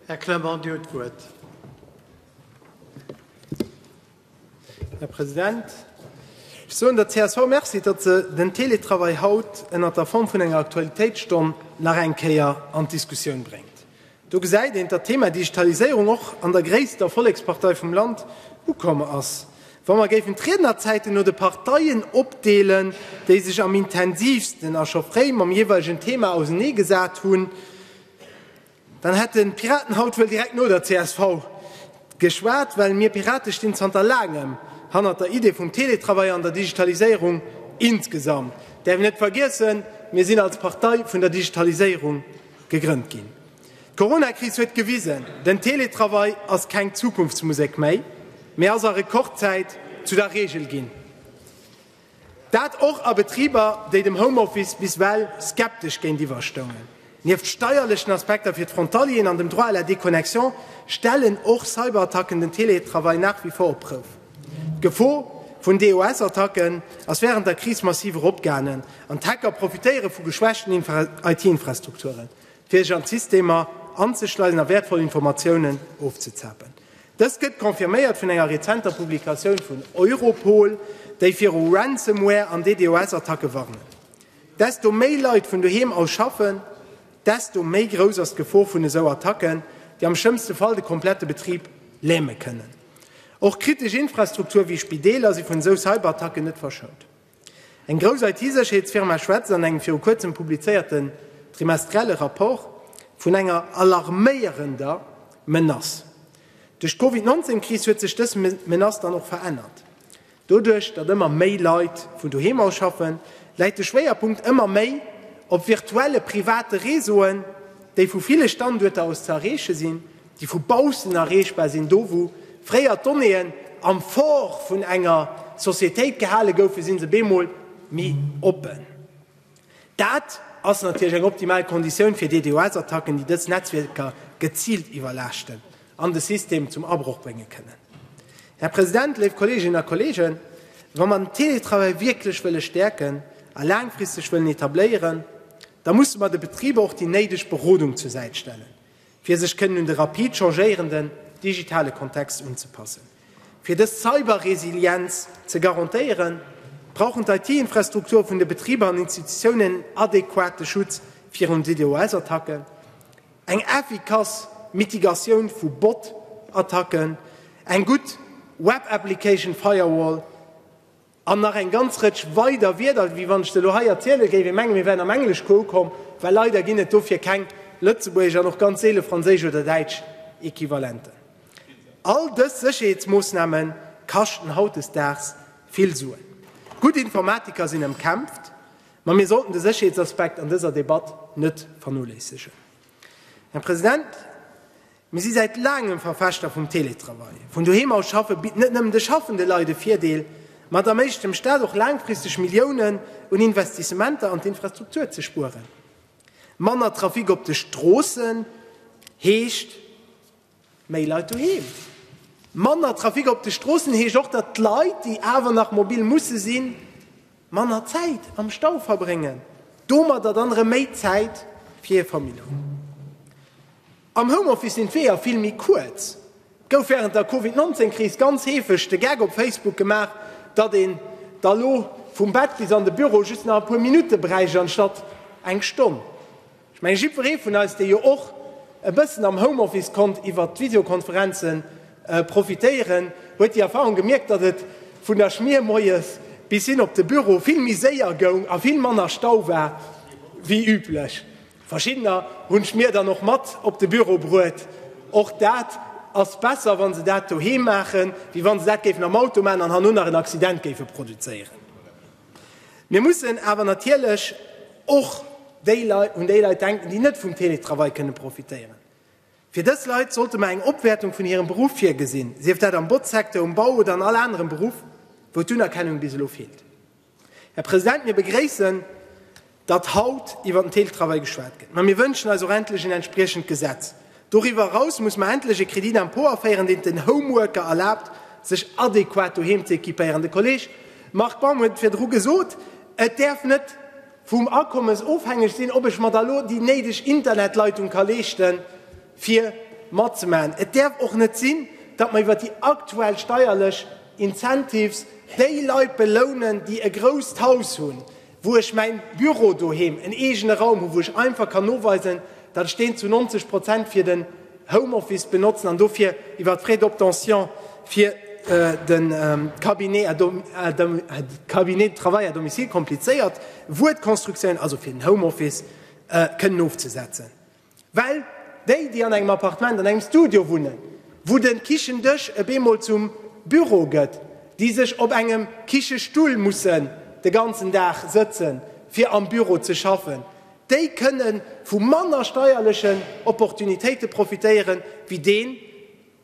Här Clement, Dir hutt d'Wuert. Här President, ech soen der csv Merci, datt se den Teletravail haut ënnert der Form vun enger Aktualitéitsstonn nach eng Kéier an d'Diskussioun bréngt. Do gesäit een, datt d'Thema Digitaliséierung och an der gréisster Vollekspartei vum Land ukomm ass. Wa mer géifen d'Riednerzäiten no de Parteien opdeelen, déi sech am intensiivsten a scho fréi mam jeeweilegen Thema ausenee gesat hunn, dann hätten d'Piraten haut wuel direkt no der csv geschwat, well mir Pirate stinn zanter laangem hannert der Idee vum Teletravail an der Digitaliséierung insgesamt. Däerf een net vergiessen, mir sinn als Partei vun der Digitaliséierung Gegrënnt ginn. D'Coronakris huet gewisen, den Teletravail ass keng Zukunftsmusek méi, mee ass a Rekordzäit zu der Reegel ginn. Dat och a Betriber, déi dem Homeoffice bis well skeptesch géintiwwer stoungen. Nieft steierlechen Aspekter fir d'Frontalieren an dem Droit à la déconnexion stellen och Cyberattacken den Teletravail nach wie vor op d'Prouf. D'Gefor vun DOS-Attacken ass wärend der Kris massiv eropgaangen an d'Hacker profitéiere vu geschwächten IT-Infrastrukturen, fir sech an d'Systemer anzeschleisen a wäertvoll Informatiounen ofzezapen. Dëst gëtt confirméiert vun enger rezenter Publikatioun vun Europol, déi viru Ransomware an DDoS-Attacke warnen. Desto méi Leit vun doheem aus schaffen, desto méi grouss ass d'Gefor vun esou Attacken, déi am schlëmmste Fall de komplette Betrib läme kënnen. Och kritesch Infrastruktur wéi Spideeler si vun esou Cyberattacken net verschount. Eng grouss IT-Sécherheetsfirma schwätzt an engem viru kuerzem publizéierten trimestrielle Rapport vun enger alarméierender Menace. Duerch d'Covid-19-Kris huet sech dës Menace dann och verännert. Doduerch, datt ëmmer méi Leit vun doheem aus schaffen, läit de Schwéierpunkt ëmmer méi op virtuelle private Réseauen, déi vu ville Standuerter aus ze erreeche sinn, déi vu baussen erreechbar sinn, do wou fréier d'Donnéeën am Fort vun enger Societéit gehale goufen, si se bemol méi oppen. Dat ass natierlech eng optimal Konditioun fir DDoS-Attacken, déi dës Netzwierker geziilt iwwerlaaschten an de System zum Abroch brénge kënnen. Här President, léif Kolleeginnen a Kolleegen, wa mer den Teletravail wierklech wëlle stäerken a laangfristeg wëllen etabléieren, da musse mer de Betriber och déi néideg Berodung zur Säit stellen. fir sech kënnen un de rapid changéierenden digitale Kontext unzepassen. Fir dës Cyberresilienz ze garantéieren, brauchen d'IT-Infrastrukture vun de Betriber an Institutiounen en adequate Schutz virun DDoS-Attacken, eng effikass Mitigatioun vu Bot-Attacken, eng gutt Web Application Firewall, An nach eng ganz Rëtsch weider Wierder, wéi wann ech se elo hei erzielen, géif ee mengen, mir wären am Englesche ukomm, well leider ginn et dofir keng lëtzebuergesch an och ganz seele franséisch oder däitsch Equivalenten. All dës Sécherheetsmoossname kaschten hautdesdaags vill Suen. Gutt Informatiker sinn ëmkämpft, ma mir sollten de Sécherheetsaspekt an dëser Debatt net vernoléissegen. Här President, mir si säit laangem Verfechter vum Teletravail. Vun doheem aus schaffe bitt net nëmmen de schaffende Leit e Virdeel, ma et erméiglecht dem Staat och laangfristeg Milliounen un Investissementer an d'Infrastruktur ze spueren. Manner Trafic op de Stroossen heescht, Méi Leit doheem, manner Trafic op de Stroossen heescht och, datt d'Leit, déi awer nach mobil musse sinn, manner Zäit am Stau verbréngen, domadder dann erëm méi Zäit fir hir Famill hunn. Am Homeoffice sinn d'Weeër vill méi kuerz. Et gouf wärend der Covid 19 Kris ganz heefeg de Gag op Facebook gemaach, datt een da lo vum Bett bis an de Büro just nach e puer Minutte bräicht anstatt eng Stonn. Ech menge jiddweree vun eis, dee jo och e bëssen am Homeoffice konnt iwwert d'Visiokonferenze profitéieren, huet déi Erfahrung gemierkt, datt et vun der Schmier moies bis hin op de Büro vill méi séier goung a vill manner Stau war wéi üblech. Verschiddener hunn d'Schmier dann och mat op de Büro bruet. Och dat ass besser, wa se dat doheem maachen, wéi wa se dat géifen am Auto maachen an herno nach en Accident géife produzéieren. Mir mussen awer natierlech och un déi Leit denken, déi net vum Teletravail kënnen profitéieren. Fir dës Leit sollte mer eng Opwäertung vun hirem Beruff virgesinn, sief dat am Botzsecteur, um Bau oder an all anerem Beruff, wou d'Unerkennung bis elo feelt. Här President, mir begréissen, datt haut iwwert den Teletravail geschwat gëtt, mä mir wënschen eis och endlech een entspriechend Gesetz. Doriwwer eraus muss mer endlech e Crédit d'impôt aféieren, deen et den Homeworker erlaabt, sech adequat doheem ze equipéieren. De Kolleg Marc Baum huet et virdru gesot, Et däerf net vum Akommes ofhängeg sinn, ob ech mer da elo déi néideg Internetleitung ka leeschte fir matzemaachen. Et däerf och net sinn, datt mer iwwert déi aktuell steierlech Incentives déi Leit belounen, déi e grousst Haus hunn, wou ech mäin Büro doheem, en eegene Raum hu wou ech einfach kann noweisen, datt ech deen zu 90 Prozent fir den Homeoffice benotzen an dofir iwwer d'Frais d'obtention fir de Cabinet à dom, à dom, Cabinet de travail à domicile, komplizéiert Wuert, Konstruktioun, also fir den Homeoffice kënnen ofzesetzen. Well déi, déi an engem Appartement, an engem Studio wunnen, wou de Kichendësch ebe mol zum Büro gëtt, déi sech op engem Kichestull mussen de ganzen Dag sëtze fir am Büro ze schaffen, déi kënne vu manner steierlechen Opportunitéite profitéiere wéi deen,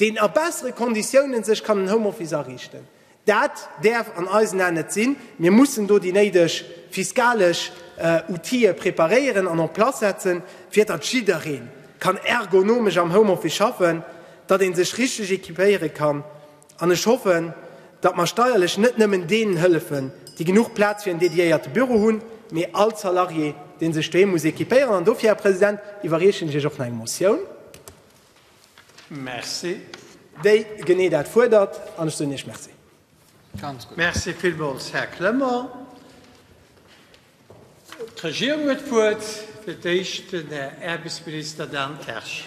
deen a bessere Konditioune sech kann en Homeoffice ariichten. Dat däerf an eisen Aen net sinn. Mir mussen do déi néideg fiskalesch Outille preparéieren an en place setzen, fir datt jidderee kann ergonomesch am Homeoffice schaffen, datt ee sech richteg equipéiere kann. An ech hoffen, datt mer steierlech net nëmmen deenen hëllefen, déi genuch Plaz fir en dediéierte Büro hunn, mee all Salarié, dee sech doheem muss equipéieren. An dofir, Här President, iwwerreechen ech Iech och nach eng Motioun. Merci. Déi genee dat fuerdert, an ech soen Iech Merci. Ganz gutt. Merci villmools, Här Clement. D'Regierung huet d'Wuert, fir d'éischt den Här Äerbesminister Dan Kersch.